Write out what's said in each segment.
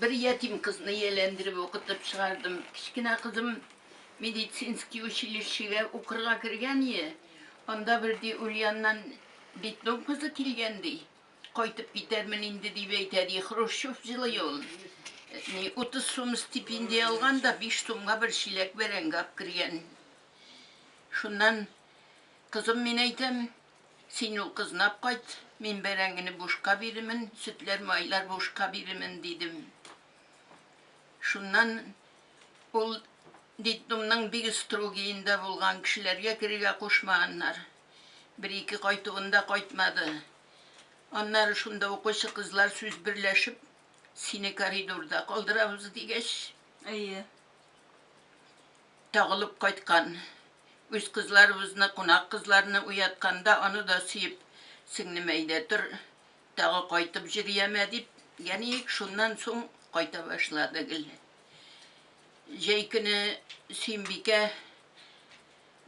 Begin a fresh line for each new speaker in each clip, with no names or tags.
Бер ятим кызны ияләндереп укытып чыгардым. Кечкенә кызым медицинский училищега укырга кергәние, анда бер, ди, Ульяннан детдом кызы килгән, ди. Кайтып китәрмен инде, дип әйтә, ди. Хрущев җылый ул. Ни, утыз сум стипендия алган да, биш сумга бер чиләк бәрәңге апкергән. Шуннан кызым, мин әйтәм, Син укызнап кайт, мин бәрәңгене бушка бирермен, сөтләр-майлар бушка бирермен, дидем. Шуннан ул детдомның бик строгиенда булган, кешеләргә керергә кушмаганнар. Бер-ике кайтуын да кайтмады. Аннары шунда укучы кызлар сүз берләшеп, сине коридорда калдырабыз, дигәч. Әйе. Тагылып кайткан. Үз кызларыбызны, кунак кызларны уятканда, аны да сөеп, Сеңлем, әйдә тор, тагы кайтып җөрьәмә, дип, яниик, шуннан соң кайта башлады гел. Җәй көне Сөембикә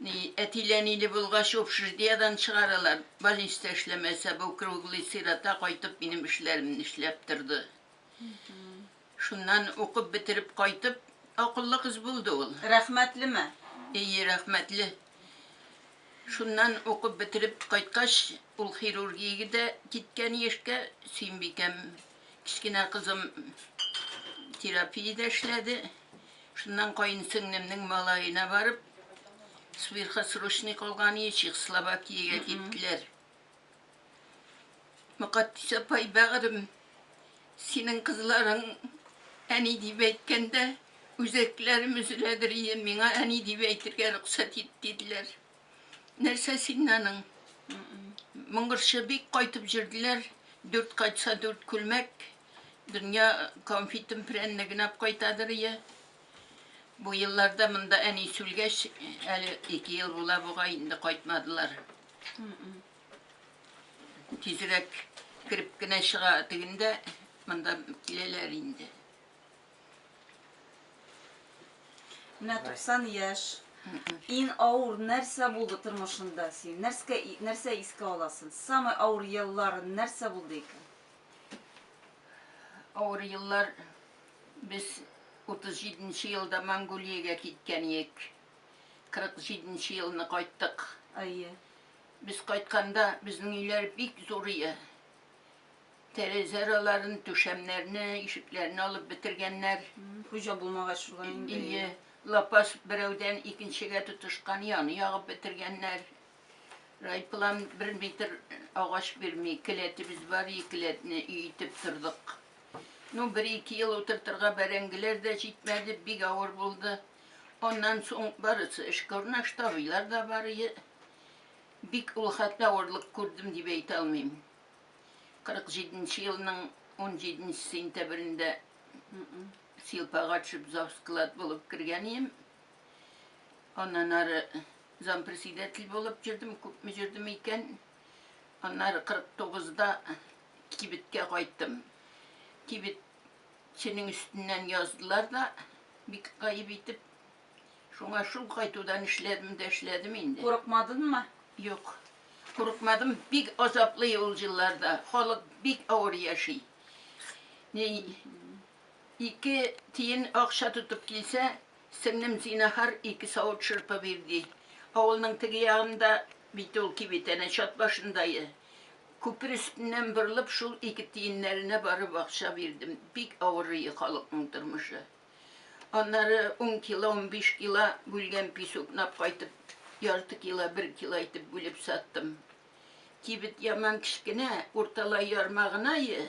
ни, әтиләниле булгач, общеждиядән чыгаралар, больниста эшләмәсә, бу круглый сирота кайтып минем эшләремне эшләп торды. Шуннан укып бетереп кайтып, акыллы кыз булды ул. Рәхмәтлеме?
Ие, рәхмәтле.
Шуннан укып бетереп кайткач, ул хирургиягә дә киткән яшькә, Сөембикәм, кечкенә кызым, терапиядә эшләде. Шуннан каенсеңлемнең малаена барып, сверхосрочный калган иде, Чехословакиягә киттеләр. Мөкатдис апай, бәгърем, синең кызларың әни дип әйткәндә, үзәкләрем өзеләдер иде, миңа әни дип әйтергә рөхсәт ит, диделәр. Нәрсә син аның? Моңгырчы бик кайтып җөрделәр, дүрт кайтса дүрт күлмәк, дөнья конфитын прәннеген ап кайтадыр ие. Бу елларда монда әни сүлгәч, әле ике ел була бугай, инде кайтмадылар. Тизрәк кереп кенә чыга дигәндә, монда киләләр инде.
Менә 90 яшь. Ин аур нәрсә булды тормышында син? Нәрскә нәрсә искә аласың? Самый аур еллар нәрсә булды икән?
Аур еллар без 37 нче елда Монголиягә киткән идек. 47 нче елны кайттык. Әйе. Без кайтканда безнең өйләр бик зур ие. Тәрәзә араларын, түшәмнәрне, ишекләрне алып бетергәннәр. Хуҗа булмагач
шулай инде. Ие, лапас
берәүдән икенчегә тотышкан, яны ягып бетергәннәр. Райплан бер метр агач бирми, келәтебез бар, и келәтне өй итеп тордык. Ну, бер-ике ел утыртырга бәрәңгеләр дә җитмәде, бик авыр булды. Аннан соң барысы эшкә урнашты, абыйлар да бар иде. Бик ул хәтта авырлык күрдем дип әйтә алмыйм. 47 нче елның 17 нче сентябрендә Силпага төшеп завсклад булып кергән идем. Аннан ары зампредседатель булып йөрдем, күпме йөрдем икән. Аннары 49 да кибеткә кайттым. Кибет Синең өстеннән яздылар да, бик гаеп итеп. Шуңа шул кайтудан эшләдем дә эшләдем инде. Курыкмадынмы?
Юк,
курыкмадым. Бик азаплы ул елларда. Халык бик авыр яши. Ике тиен акча тотып килсә, Сеңлем, зинахар, ике савыт шырпы бир, ди. Авылның теге ягында бит ул кибет, әнә чат башындайы. Күпер өстеннән борылып, шул ике тиеннәренә барып акча бирдем. Бик авырые халыкның тормышы. Аннары ун кило, унбиш кило бүлгән пис укнап кайтып, ярты кило, бер кило итеп бүлеп саттым. Кибет яман кечкенә, урталай ярма гынае.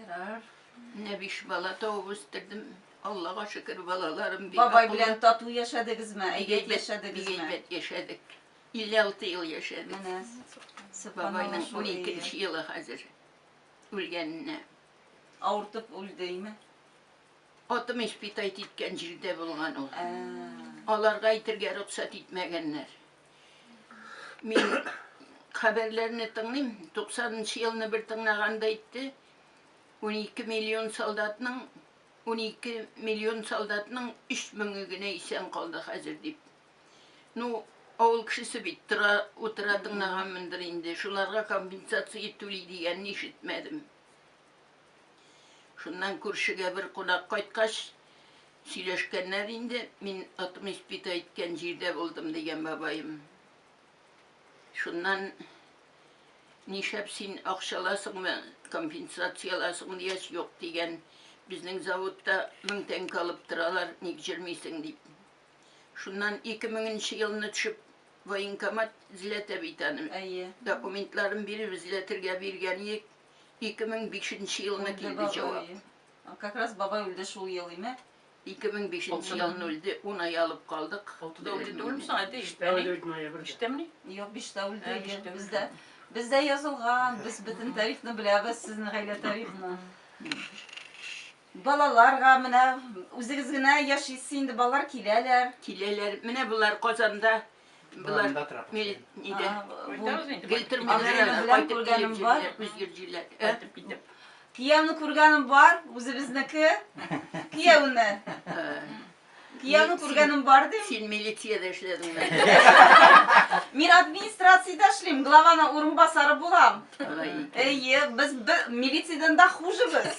Ярар. Менә биш
бала табып үстердем. Аллага шөкер, балаларым бик Бабай акыллы. белән тату
яшәдегезме? Бик Әйбәт әйбәт, бик яшәдегезме? әйбәт яшәдек. 56
ел яшәдек. Менә. Бабайның Субханалла, шул 12 ие. нче елы хәзер үлгәненә.
Авыртып үлдеме? Атым
испытать иткән җирдә булган ул. Ә. Аларга әйтергә рөхсәт итмәгәннәр. Мин хәбәрләрне тыңлыйм, 90 нчы елны бер тыңлаганда әйтте, 12 миллион солдатның 12 миллион солдатның 3 меңе генә исән калды хәзер дип. Ну, авыл кешесе бит тора, утыра тыңлаганмындыр инде. Шуларга компенсация итүли дигәнне ишетмәдем. Шуннан күршегә бер кунак кайткач, сөйләшкәннәр инде, мин атым испит әйткән җирдә булдым, дигән бабаем. Шуннан нишәп син акчаласыңмы, компенсацияласың, дигәч, юк, дигән, безнең заводта мең тәңкә алып торалар, ник җөрмисең, дип. Шуннан ике меңенче елны төшеп, военкомат эзләтә бит аны. Әйе. Документларын биреп эзләтергә биргән идек. 2005 нче елына килде җавап. Как раз
бабай үлде шул ел име? 2005 нче елны
үлде, ун ай алып калдык. Алтыда үлде түгелме
соң, әти? Биштә үлде ноябрьдә. Биштәмени? Юк, биштә
үлде, бездә. Бездә язылган, без бөтен тарихны беләбез, сезнең гаилә тарихны. Балаларга менә үзегез генә яшисез инде, балалар киләләр. Киләләр. Менә
болар Казанда Болар нидә? Гел тормыйлар, кайтып күргәнем бар. Үзгер җилләр. Кайтып китеп.
Кияүне күргәнем бар, үзебезнеке. Кияүне. Кияүне күргәнем бар ди. Син милициядә
эшләдеңме?
Мин администрациядә эшлим, главаны урынбасары булам. Әйе, без милициядән дә хужебез.